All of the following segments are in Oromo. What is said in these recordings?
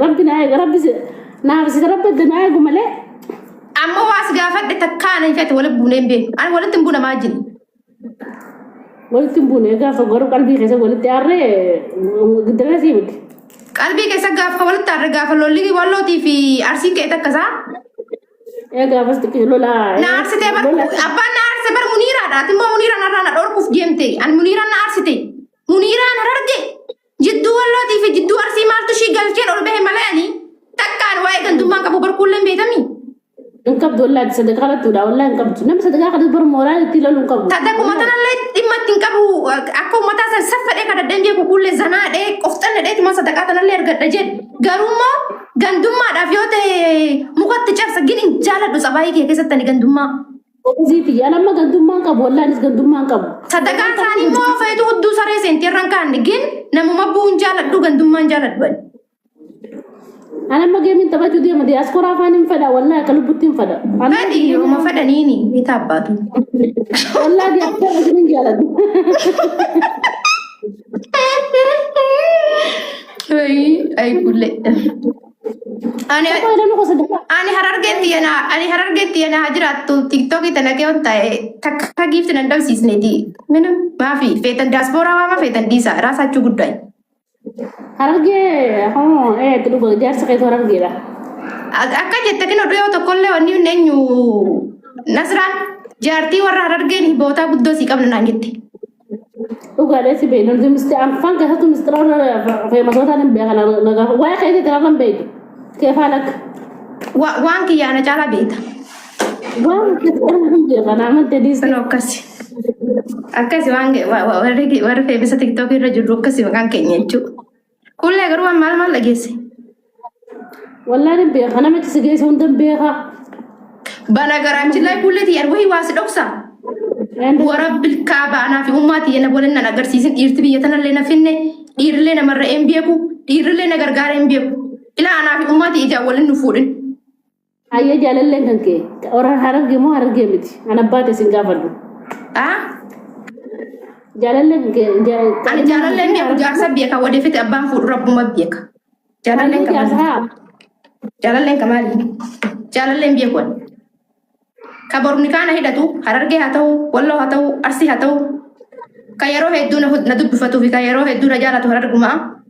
Rabbi naa eega rabbi si- naaf si rabbi adda naa eegu malee Amma waas gaafadhe takkaa ani fete walitti buunee hin beeku. Ani walitti hin buuna maa jini. walitti hin buune gaafa garuu qalbii keessa walitti aarree giddara sii miti. Qalbii keessa gaafa walitti aarre gaafa lolli wallootii fi arsiin ka'e takka isaa. Ee gaafas xiqqii lolaa. Na aarsitee bar abbaan na aarse bar muniiraadha. Ati immoo muniiraan har'aa na dhorkuuf deemte. Ani muniiraan na aarsite. Muniiraan hararge. Jidduu Wallootii fi jidduu Arsii maaltu ishii galcheen ol bahe malee ani takkaan waa'ee gandummaan qabu barkuulleen beekamii. Hin qabdu wallaahi sadaqa kadhattuudha wallaahi hin qabdu. Namni sadaqa kadhatu bara mooraan itti loluu hin qabu. Tata kuma tanallee dhimma itti hin qabu akka uummataa san saffadhee kadhadheen beeku kuullee zanaadhee qofxannadhee tuma sadaqaa tanallee argadha jedhe. Garuu immoo gandummaadhaaf yoo ta'e mukatti cabsa gin hin jaaladhu sabaayii kee keessatti ani gandummaa. Gobazii tiyya. Ani amma gandummaan qabu. Wallaan is gandummaan qabu. Sadaqaan isaanii immoo feetu hudduu saree seenti irraan kaanne gin namuma bu'uun jaaladhu gandummaan jaaladhu ani. Ani amma geemiin taphachuu deema. Diyaaskoraa afaan hin fedha. Wallaan akka lubbutti hin fedha. Ani Fedhi yooma fedhaniini bitaa abbaatu. wallaan diyaaskoraa isin hin jaaladhu. Ay, ay, kulle. Ani Tapha ilaaluu gosa dha. ani harargeetti yana ani harargeetti yana haa jiraattu tiktookii tana kee on ta'e takka giifti nan dhabsiisneeti minam maafi feetan daaspooraa waama feetan diisa raasaachuu guddaa Harargee hoo ee itti dhuga jaarsa keessa harargeedha. Ak- akka jette kino dhuyoo tokkollee wanni hin eenyu nasraan jaartii warra harargeen bootaa guddoo sii qabna naan jette Dhugaadha si beekna nuti misti anfaan keessattuu mistiraawwan feemasootaa nan beeka na gaafa waa'ee keessa jiraarra hin beeku keefaan akka Wa- Waan kiyya ana caalaa beekta. waan keessatti hin beeka na amante diiste Kun akkasi. Akkasi waan ge- wa- wa- warri warri feebisa tiktookii irra jirru akkasi maqaan keenya jechuudha. Kuullee garuu waan maal maal dhageesse? Wallaa nan beeka nama itti si geessu hundan beeka. Bala garaachillee kuullee tiyya wayii waa si dhoksa. Wara bilkaa baanaa fi ummaa tiyya na waliin nan agarsiisin dhiirti biyya tanallee na finne dhiirrillee namarra hin beeku dhiirrillee na gargaara hin beeku. Ilaa anaa fi ummaa tiyya ijaan waliin nu fuudhin. Ayyee jaalalleen kan kee warra hararge moo harargee miti an abbaa ta'e sin gaafadhu Haa? jaalalleen kan kee Ani jaalalleen kan jaalallee kee beeku jaarsa beeka wadeefite abbaan fuudhu rabbuma beeka. Jaalalleen kan maali? jaarsaa Jaalalleen kan maali? Jaalalleen beeku ani. Ka borni kaana hidhatu harargee haa ta'u, walloo haa ta'u, arsii haa ta'u. Ka yeroo hedduu na hud- na dubbifatuufi ka yeroo hedduu na jaalatu harargumaa.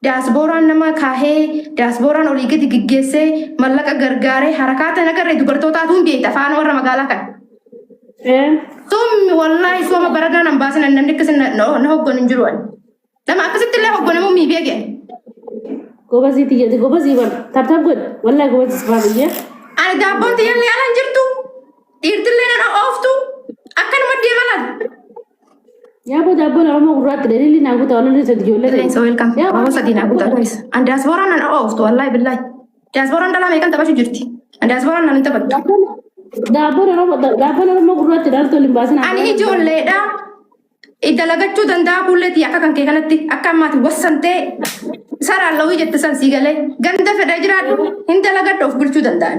Daasbooraan nama kaahee, daasbooraan olii gadi geggeessee, mallaqa gargaaree, harakaata nagarree dubartootaatu hin beekta afaan warra magaalaa kana. Ee. Soomni wallaahi sooma baranaa nan baasin ani namni akkasii na- na na hogganu hin jiru ani. Nama akkasitti illee hogganamuun mii beeke. Gobazii tiyyati gobazii bal. Tabtab godhi. Wallahi gobazii sifaa biyyee. Ani daabboon tiyyallee ala hin jirtu. Dhiirtillee nan ooftu. Akkanuma deema laata. Yaa boo daabboon Oromoo gurraatti daliilli naa guutaa walirra isa ijoollee Illee isa welcome. Yaa Oromoo boo- sadii naa guutaa guys. An diasporaan nan ooftu wallahi billahi. Diasporaan dhalaa meeqan taphachuu jirti. An diasporaan nan hin taphattu. Daabboon Oromoo daabboon Oromoo gurraatti dhaltuu hin baasin. Ani ijoolleedha. Dalagachuu danda'a kuulleetii akka kan kee kanatti akka ammaati wassantee saraan lawii jette san sii galee ganda fedha jiraadhu hin dalagadhu of bulchuu danda'an.